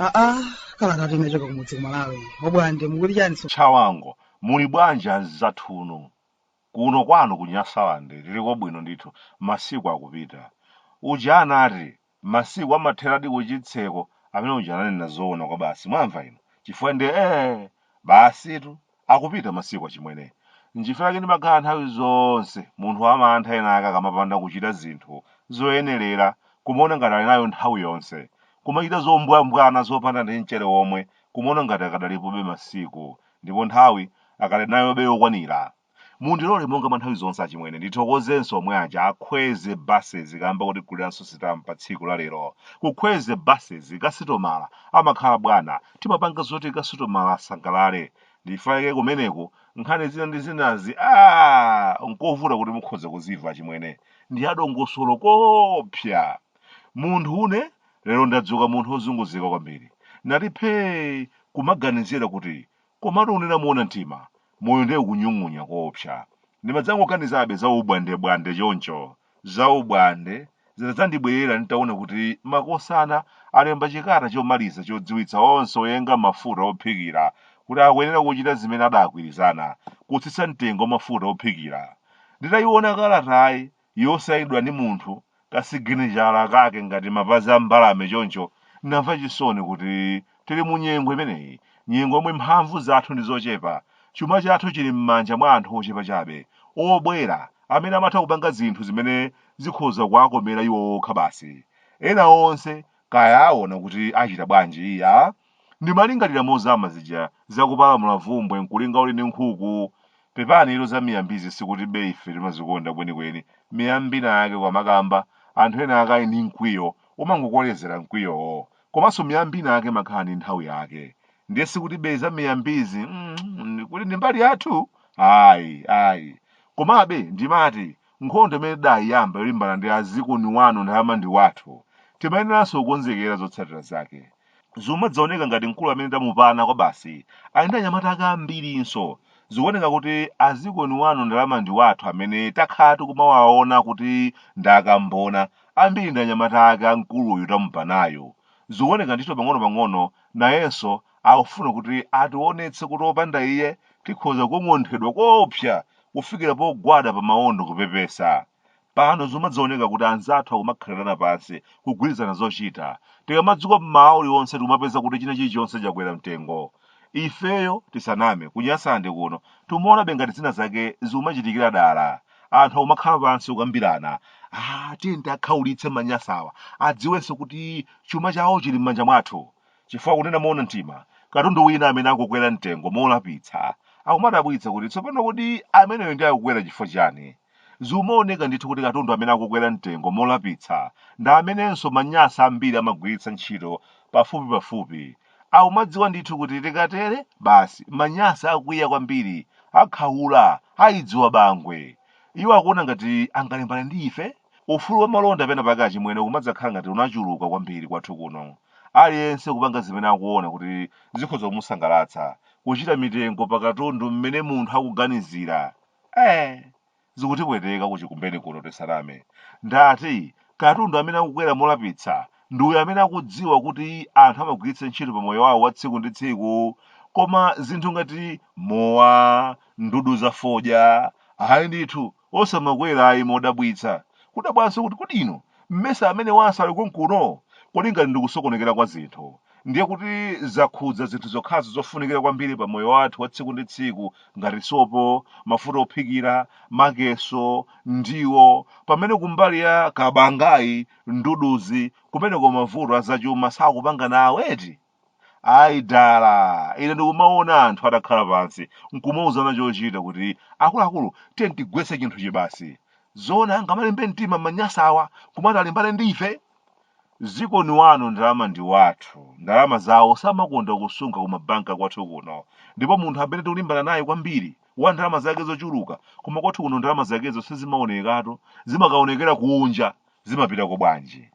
aa kalatatu inachoka kumudzi kumalawi obwande mukuti chani so chawango muli bwanji anzathu inu kuno kwanu ku nyasalande tiliko bwino ndithu masiku akupita uja anati masiku amatheradi kuchitseko amene uja ananena zoona kwabasi mwamva inu chifukwa ndi ee basitu akupita masiku achimwene nchifukwa chake ndimakhala nthawi zonse munthu wamantha enaake akamapanda kuchita zinthu zoyenerera kumaona ngati ali nayo nthawi yonse kumachita zombwambwana zopanda ndi mchere womwe kumaona ngati akadalipobe masiku ndipo nthawi akadali nayobe yokwanira Mundilole monga mwa nthawi zonse achimwene ndithokozenso omwe aja akhweze buses kamba kotiguriranso sitampa tsiku la lero. Kukhweze buses kasitomala amakhala bwana timapanga zoti kasitomala asangalale. Ndifanike kumeneku nkhani zina ndi zinazi aah nkovuta kuti mukhoza kuzimva achimwene. Ndi adongosolo koopsa. Munthune lero ndadzuka munthu wozunguzika kwambiri. Ndati phee kumaganizira kuti Komatu kunena moona mtima, moyo ndiye ukunyung'unya koopsa. Ndimadzangoganizabe za ubwandebwande choncho. Za ubwande zinadzandibwerera nditaona kuti makosana alemba chikalata chomaliza chodziwitsa onse oyenga mafuta ophikira kuti akuyenera kuchita zimene adaagwirizana, kutsitsa mtengo wa mafuta ophikira. Nditaiona kalatayi, yosainidwa ndi munthu, kasiginichala kake ngati mapazi a mbalame choncho, ndinamva chisoni kuti tili mu nyengo imeneyi, nyengo yomwe mphamvu zathu ndi zochepa, chuma chathu chili m'manja mwa anthu ochepa chabe, obwera, amene amatha kupanga zinthu zimene zikhoza kuwakomera iwo okha basi. Ena onse, kaya aona kuti achita bwanji, iyaa, Ndimalingalira mozama zija za kupalamula vumbwe nkulinga uli ndi nkhuku. Pepanitu za miyambizi sikutibe ife timazikonda kwenikweni miyambi inayake koma amakamba anthu ena akali ndi mkwiyo umangokolezera mkwiyowo. Komanso miyambi inayake imakhala ndi nthawi yake. Ndiye sikutibe za miyambizi mm, kuti ndi mbali yathu? Ayi, ayi. Komabe ndimati nkhondo imene tidayiyamba yolimbana ndi azikoni wanu Ndalama ndi Wathu timayeneranso kukonzekera zotsatira zake. Zimadzaoneka ngati mkulu amene tamupana kwabasi ali ndi anyamata ake ambirinso. Zikuoneka kuti azikoni wanu ndalama ndiwathu amene takhala tikumawaona kuti ndi akamuna ambiri ndi anyamata ake a mkuluyu tamupanayu. Zikuoneka ndithu pang'onopang'ono nayenso akufuna kuti ationetse kuti opanda iye tikhoza kukong'onthedwa koopsa kufikira pogwada pamaondo kupepesa. Pano zikumadzaoneka kuti anzathu akumakhalirana pansi kugwirizana zochita. Tikamadzuka mmawa uliwonse tikumapeza kuti china chilichonse chakwera mtengo. Ifeyo, tisaname, ku Nyasande kuno, tikumaonabe ngati zina zake zikumachitikira dala. Anthu akumakhala pansi kukambirana, Aaa, tiyeni tiakhaulitse manyasawa, adziwenso kuti chuma chawo chili mmanja mwathu. Chifukwa kunena moona mtima, katundu wina amene akukwera mtengo molapitsa, akumadabwitsa kuti tsopano kodi ameneyo ndiye akukwera chifukwa chiyani? Zikumaoneka ndithu kuti katundu amene akukwera mtengo molapitsa ndi amenenso manyasa ambiri amagwiritsa ntchito pafupipafupi. Akumadziwa ndithu kuti tikatere, basi, manyasa akwiya kwambiri, akhaula, aidziwa bangwe. Iwo akuona ngati angalimbane ndi ife? Ufulu wa malonda penapake achimwene ukumadzakhala ngati unachuluka kwambiri kwathu kuno. Aliyense kupanga zimene akuona kuti zikhoza kumusangalatsa, kutchita mitengo pa katundu mmene munthu akuganizira. Eee! Zikutipweteka ku Chikumbeni kuno tisaname. Ndati, katundu amene akukwera molapitsa ndi uyo amene akudziwa kuti anthu amagwiritsa ntchito pa moyo wawo wa tsiku ndi tsiku. Koma zinthu ngati mowa, ndudu za fodya, ayi ndithu, osamakwera ayi modabwitsa. Kudabwanso kuti kodi inu, mesa amenewanso ali konkuno? Kodi ngati ndi kusokonekera kwa zinthu, ndiye kuti zakhudza zinthu zokhazo zofunikira kwambiri pa moyo wathu wa tsiku ndi tsiku ngati sopo mafuta ophikira makeso ndiwo pamene kumbali ya kabangayi nduduzi kumeneko mavuto azachuma sakupanga nawoko eti ayi dala ine ndikumaona anthu adakhala pansi nkumauzana chochita kuti akuluakulu tiyeni tigwetse chinthuchi basi zoona angamalimbe mtima manyasa awa kumati alimbane ndi ife Zikoni wanu ndalama ndi wathu. Ndalama zawo samakonda kusunga kumabanki kwathu kuno. Ndipo munthu amene tikulimbana naye kwambiri, wa ndalama zake zochuluka, koma kwathu kuno ndalama zakezo sizimaonekatu, zimakaonekera kunja. Zimapitako bwanji?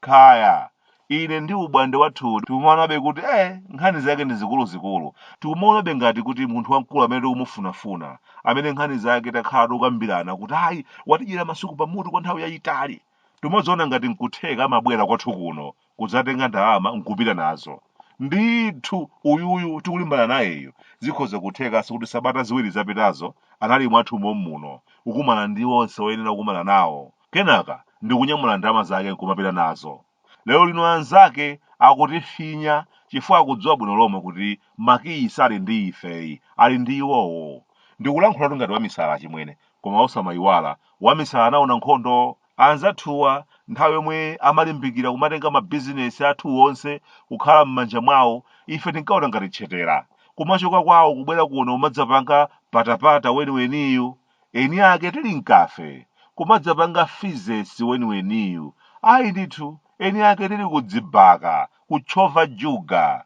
Kaya. Ine ndi umbwande wathuwu tikumaonabe kuti eh, nkhani zake ndi zikuluzikulu. Tikumaonabe ngati kuti munthu wamkulu amene tikumufunafuna, amene nkhani zake takhala tikukambirana kuti ayi, watidyera masuku pamutu kwa nthawi yayitali. tikumadziona ngati nkutheka amabwera kwathu kuno kudzatenga ndalama nkupita nazo ndithu uyuyu tikulimbana nayeyu zikhoza kuthekanso kuti sabata ziwiri zapitazo anali mwathu mommuno kukumana ndi onse oyenera kukumana nawo kenaka ndikunyamula ndalama zake nkumapita nazo lero lino anzake akutifinya chifukwa akudziwa bwino lomwe kuti makiyi sali ndi ifeyi ali ndi iwowo ndikulankhulatu ngati wamisala chimwene Koma osamayiwala, wamisala anaona nkhondo. Anzathuwa nthawi yomwe amalimbikira kumatenga mabizinesi athu onse kukhala mmanja mwawo, ife tinkaona ngati tchetera. Kumachoka kwawo kubwera kuno kumadzapanga patapata weniweniyu, eni ake tili m'khafe. Kumadzapanga fizesi weniweniyu. Ayi ndithu, eni ake tili kudzibaka, kutchova juga.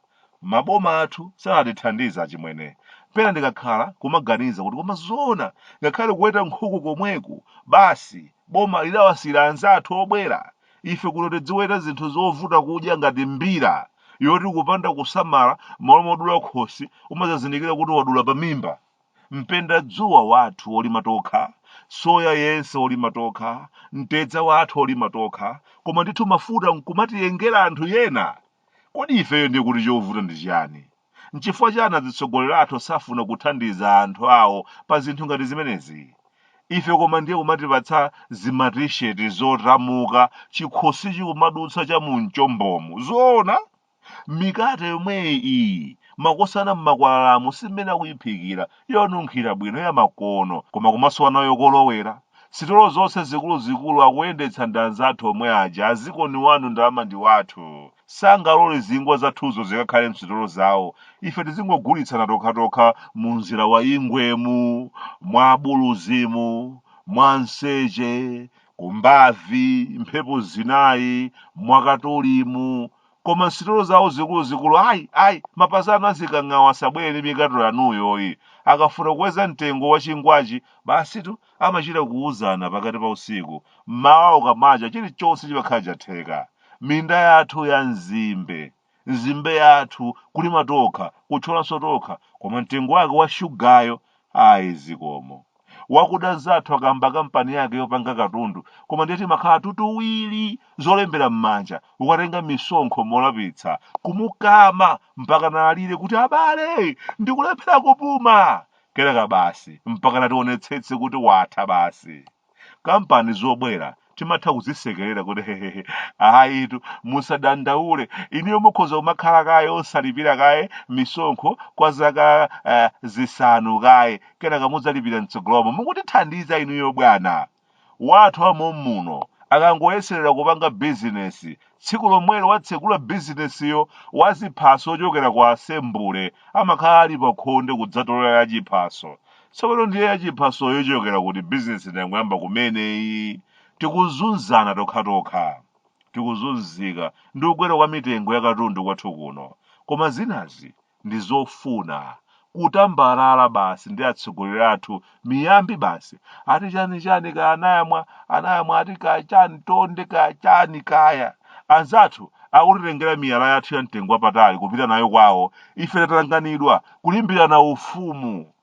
Maboma athu satithandiza achimwene. Pena ndikakhala kumaganiza kuti koma zoona ngakhale kuweta nkhuku komweku basi boma lidawasiyira anzathu obwera? Ife kuno tidziweta zinthu zovuta kudya ngati mbira yoti kupanda kusamala mmalo modula khosi umadzazindikira kuti wadula pamimba. Mpendadzuwa wathu wolima tokha, soya yense wolima tokha, mtedza wathu wolima tokha koma ndithu mafuta nkumatiyengera anthu ena Kodi ifeyo ndiye kuti chovuta ndi chiyani? N'chifukwa chiyani azitsogoleri athu safuna kuthandiza anthu awo pa zinthu ngati zimenezi? Ife koma ndiye kumatipatsa zimatisheti zotamuka chikhosichi kumadutsa cha mu mchombomu. Zoona? Mikate yomweyi iyi, makosana m'makwalalamu si mmene akuyiphikira, yonunkhira bwino yamakono koma kumasowa nayo kolowera. Sitolo zonse zikuluzikulu akuyendetsa ndi anzathu omwe aja a zikoni wanu ndalama ndi wathu. Sangalole zingwa zathuzo zikakhale m'sitolo zawo. Ife tizingogulitsana tokhatokha mu njira ya Ingwemu, mwa Abuluzimu, mwa Mseche, ku Mbavi, Mphepo Zinayi, mwa Katolimu, koma msitolo zawo zikuluzikulu ayi ayi mapazi anu azikang'awa asabwere ndi mikate yanuyoyi akafuna kukweza mtengo wa chingwachi basitu amachita kuwuzana pakati pa usiku mmawa ukamacha chilichonse chimakhala chatheka minda yathu ya nzimbe nzimbe yathu kulima tokha kutcholanso tokha koma mtengo wake wa shugayo ayi zikomo wakuda nzathu akayamba kampani yake yopanga katundu koma ndiye timakhala tutuwiri zolembera m'manja kukatenga misonkho molapitsa kumukama mpaka naalire kuti abale ndikulephera kupuma kenaka basi mpaka nationetsetse kuti watha basi kampani zobwera timatha kuzisekerera kuti hehehe ayitu musadandaule inuyo mukhoza kumakhala kaye osalipira kaye misonkho kwa zaka eh, zisanu kaye kenaka mudzalipira mtsogolomo mukutithandiza inuyo bwana wathu wa mommuno akangoyeserera kupanga bizinesi Tsiku lomwelo watsegula bizinesiyo, waziphaso ochokera ku asembule amakhala ali pakhonde kudzatolera yachiphaso. Tsopano ndiye yachiphasoyo ichokera kuti? Bizinesi tangoyamba kumene iyi. Tikuzunzana tokhatokha. Tikuzunzika ndi kukwera kwa mitengo ya katundu kwathu kuno. Koma zinazi ndi zofuna kutambalala basi ndi atsogoleri athu miyambi basi ati chani chani kaya anayamwa anayamwa ati kaya chani tonde kaya chani kaya anzathu akutitengera miyala yathu ya mtengo wapatali kupita nayo kwawo ife tatanganidwa kulimbirana ufumu